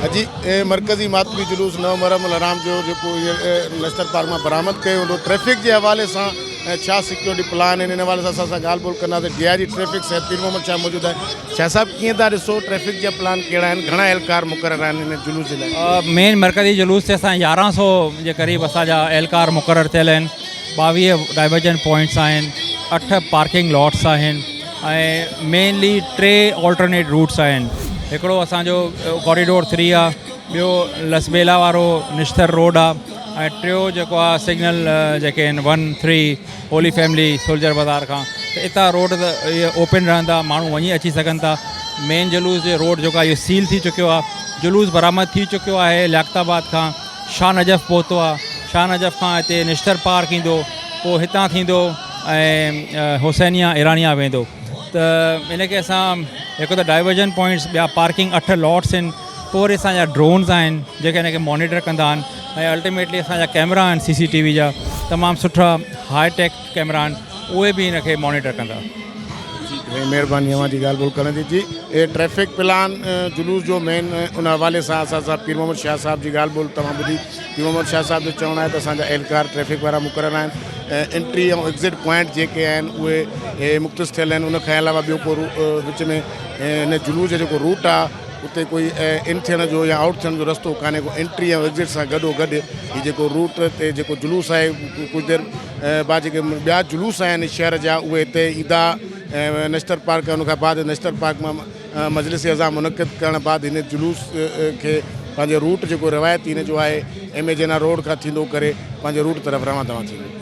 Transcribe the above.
اڄ مرڪزي ماتمي جلوس نو محرم الحرام جو جيڪو هينئر نشتر پارڪ مان برآمد ڪيو ويندو ٽريفڪ جي حوالي سان ۽ ڇا سيڪيورٽي پلان آهن ان حوالي سان اسان سان ڳالهه ٻولهه ڪنداسين D I G traffic Syed Pir Muhammad Shah موجود آهن شاهه صاحب ڪيئن ٿا ڏسو ٽريفڪ جا پلان ڪهڙا آهن گهڻا اهلڪار مقرر آهن ان جلوس جي لاء. مين مرڪزي جلوس تي اسان يارهن سو جي قريب اسان جا اهلڪار مقرر ٿيل آهن ٻاويهه ڊائيورجن پوائنٽس آهن اٺ پارڪنگ لاٽس آهن ۽ مينلي ٽي آلٽرنيٽ روٽس آهن هڪڙو اسان جو ڪوريڊور ٿري آ ٻيو لسٻيلا وارو نشتر روڊ آ ۽ ٽيو جيڪو آ سگنل جيڪي آهن one three holy family soldier Bazaar کان ته اتان روڊ ته اوپن رهندا ماڻهو وڃي اچي سگهن ٿا مين جلوس جي روڊ جيڪو آ اهو سيل ٿي چڪيو آ جلوس برآمد ٿي چڪيو آهي لياقت آباد کان شاهه نجف پهتو آ شاهه نجف کان هتي نشتر پار ڪيندو پوء هتان ٿيندو ۽ حسينيا ايرانيا ويندو ته ان کي اسان هڪ ته ڊائيورجن پوائنٽس ٻيا پارڪنگ اٺ لوٽس آهن پوء وري اسان جا ڊرونز آهن جيڪي ان کي مونيٽر ڪندا آهن ۽ الٽيميٽلي اسان جا ڪيمرا آهن سي سي ٽي وي جا تمام سٺا هاء ٽيڪ ڪيمرا آهن اهي به ان کي مانيٽر ڪندا. جي سائين مھرباني اوھان جي ڳالھ ٻولھ ڪرڻ جي جي اھي ٽريفڪ پلان جلوس جو مين ان حوالي سان اسان سان پير محمد شاھ صاحب جي ڳالھ ٻولھ توھان ٻڌي پير محمد شاھ صاحب جو چوڻ آھي ته اسان جا اھلڪار ٽريفڪ وارا مقرر آھن ۽ انٽري ۽ ايگزٽ پوائنٽ جيڪي آھن اھي مختص ٿيل آھن ان کان علاوه ٻيو ڪو وچ ۾ ان جلوس جو جيڪو روٽ آھي اتي ڪوئي ان ٿيڻ جو يا آئوٽ ٿيڻ جو رستو ڪانهي ڪو انٽري ۽ ايگزٽ سان گڏو گڏ هي جيڪو روٽ تي جيڪو جلوس آهي ڪجهه دير بعد جيڪي ٻيا جلوس آهن شهر جا اهي هتي ايندا ۽ نشتر پارڪ ان کان بعد نشتر پارڪ مان مجلس عزا منعقد ڪرڻ بعد هن جلوس کي پنهنجو روٽ جيڪو روايتي هن جو آهي ايم اي جناح روڊ کان ٿيندو ڪري پنهنجي روٽ طرف روان دوان ٿيندو